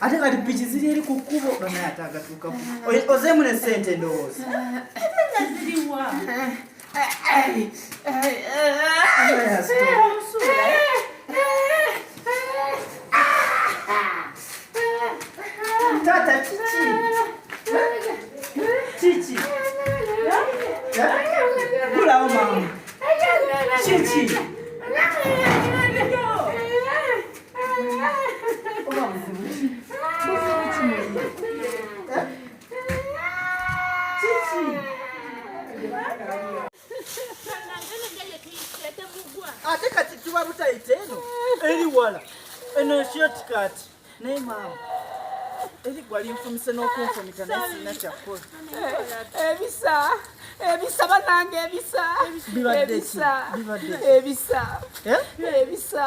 ate kati piki ziri eri ku kkubo banaye ate agatuukaku ozeemu ne sente ndowooza taata kiki kiki gulawo mama kiki ate kati tuba butayita eno eri wala eno ekyoti kati naye maama eri gwali nfumise n'okunfumita naye sirina kyakukola ebisa ebisa banange ebisa ebisa ebisa ebisa